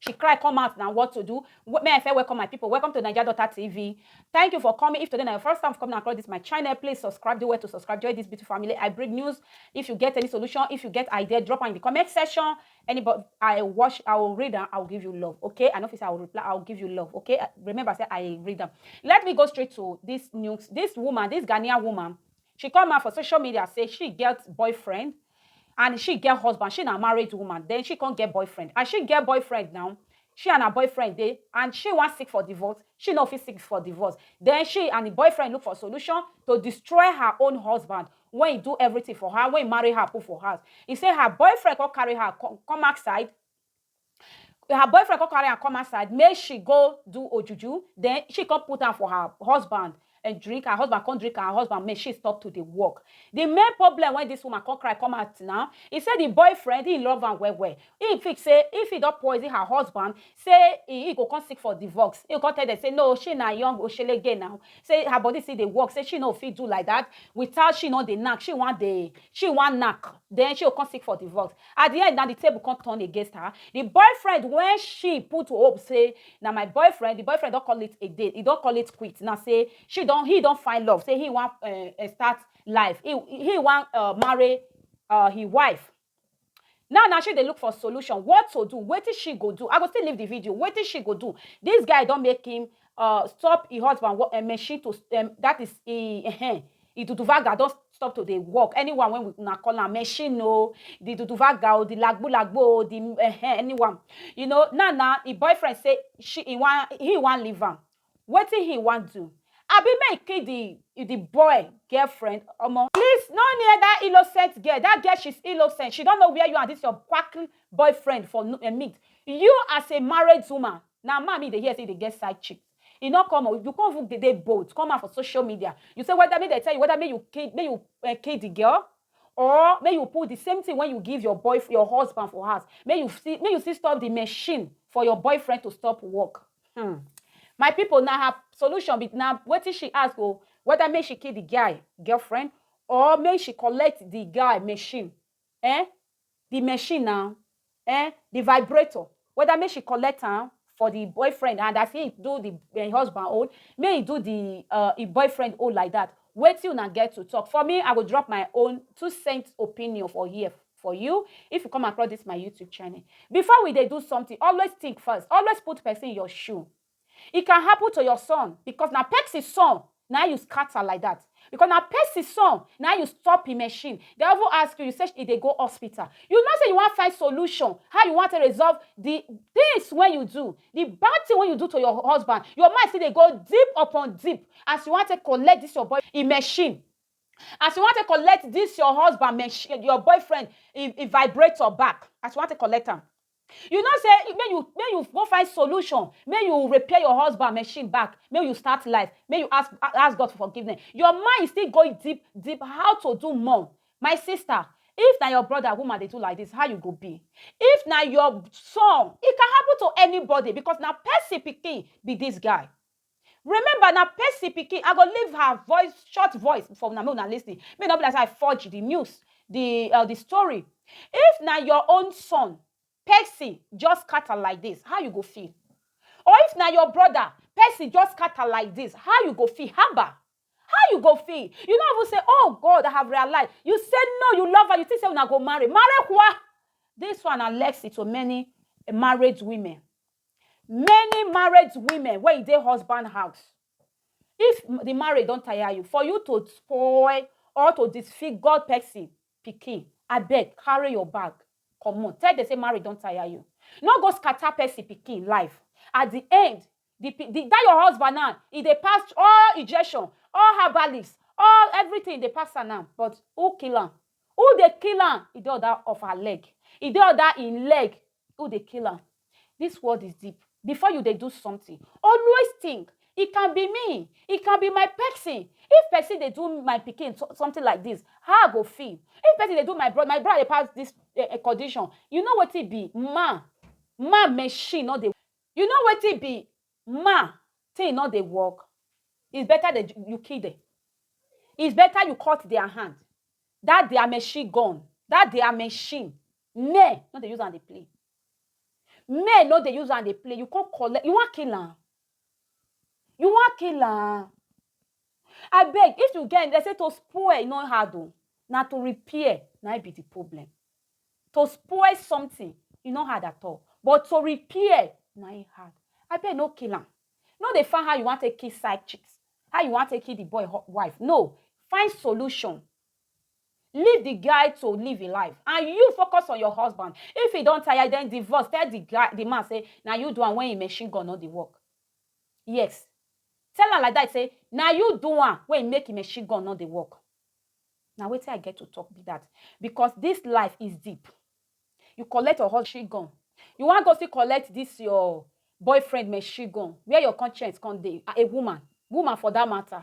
She cry come out na what to do may I first welcome my people welcome to Naija Daughter TV thank you for coming if today na your first time for coming across this my channel please subscribe do well to subscribe join this beautiful family I bring news if you get any solution if you get idea drop am in the comment section anybody I watch I will read am I will give you love okay I no fit say I will reply I will give you love okay remember say I read am let me go straight to this news this woman this Ghanaian woman She come out for social media say she get boyfriend and she get husband, she na married woman then she come get boyfriend and she get boyfriend now, she and her boyfriend dey and she wan seek for divorce, she no fit seek for divorce then she and the boyfriend look for solution to destroy her own husband wey he do everything for her, wey he marry her put for house, he say her boyfriend come carry her come outside her boyfriend come carry am come outside make she go do ojuju then she come put am for her husband and drink her husband come drink her husband make she stop to dey work the main problem when this woman come cry come out now he say the boyfriend he love am well well he think say if he don poison her husband say he, he go come seek for divorce he come tell them say no she na young oshele girl now say her body still dey work say she no fit do like that without she no dey knack she wan dey she wan knack then she go come seek for divorce At di end na di table come turn against her, di boyfriend wey she put hope say na my boyfriend, di boyfriend don call it a day, he don call it quit now say she don, he don find love say he wan um start life, he he wan um marry um he wife. Now na she dey look for solution, what to do, wetin she go do, I go still leave di video, wetin she go do, dis guy don make him uh, stop her husband work, um, machine to um, that is he, uh, eh, the duduvaga don stop to dey work anyone when we una call am machine o the duduvaga o the lagbo lagbo o the uh, eh, eh, anyone you know now now the boyfriend say she he wan he wan leave am wetin he wan do abi make kill the the boy girlfriend omo please no near that innocent girl that girl she's innocent she don't know where you and this your quacky boyfriend for uh, meet you as a married woman Na man me dey hear say e dey get side chicks. E no come o, you come even dey dey bold come out for social media, you say whether make dem tell you whether make you kill make you um kill the girl or make you put the same thing wey you give your boy your husband for house make you still make you still stop the machine for your boyfriend to stop work hmm my people na her solution be na wetin she ask o whether make she kill the guy girlfriend or make she collect the guy machine eh the machine now eh the vibrator whether make she collect am for the boyfriend and as he do the eh, husband own make he do the uh, him boyfriend own like that Wait till una get to talk for me i go drop my own two cents opinion for here for you if you come across this my youtube channel before we they do something always think first always put person in your shoe E can happen to your son because na pesin son na you scatter like that because na pesin son na you stop him machine dem even ask you you say e dey go hospital you know say you wan find solution how you wan take resolve the things wey you do the bad thing wey you do to your husband your mind still dey go deep upon deep as you wan take collect this your boy him machine as you wan take collect this your husband machine your boyfriend him him vibrator back as you wan take collect am You know say make you make you go find solution, make you repair your husband machine back, make you start life, make you ask ask God for forgiveness. Your mind is still going deep deep how to do more. My sister, if na your brother woman dey do like this, how you go be? If na your son, e can happen to anybody because na person pikin be this guy. Remember na Percy pikin, I go leave her voice, short voice for una make una listen, make e no be like say I forge the news, the uh, the story. If na your own son, Percy just scatter like this, how you go feel? Or if na your brother, Percy just scatter like this, how you go feel? Haba! How you go feel? You no even say, oh God, I have realized. You say no, you love her, you think say una go marry. Marry kwa! This one na Lexi to many married women. Many married women wey e dey husband house, if the marriage don tire you, for you to spoil or to disfigure person pikin, abeg carry your bag comot. Tell dem say marriage don tire you. No go scatter person pikin life. At the end, the the dat your husband now, e dey pass all injection, all herbalist, all everything e dey pass am now but who kill am? Who dey kill am? E dey under of her leg. E dey under im leg u dey kill am this world is deep before you dey do something always think it can be me it can be my person if person dey do my pikin so- something like this how i go feel if person dey do my brother my brother dey pass this eh, eh, condition you know wetin be man man machine no dey you know wetin be man thing no dey work it's better that you kill them it's better you cut their hand that their machine gone that their machine Men no dey use am dey play. Men no dey use am dey play. You come collect, you wan kill am? You wan kill am? Abeg, if you get, dem say to spoil e no hard o, na to repair na im be the problem. To spoil something e no hard at all, but to repair na im hard. Abeg no kill am. No dey find how you wan take kill side chick, how you wan take kill the boy wife. No! Find solution Leave the guy to live him life and you focus on your husband. If he don tire, then divorce. Tell the guy, the man say na you do am when him machine gun no dey work. Yes, tell am like that say na you do am when him make him machine gun no dey work. Na wetin I get to talk be that because this life is deep. You collect your husband gun, you wan go still collect this your boyfriend machine gun, where your conscience come dey? A woman, woman for that matter.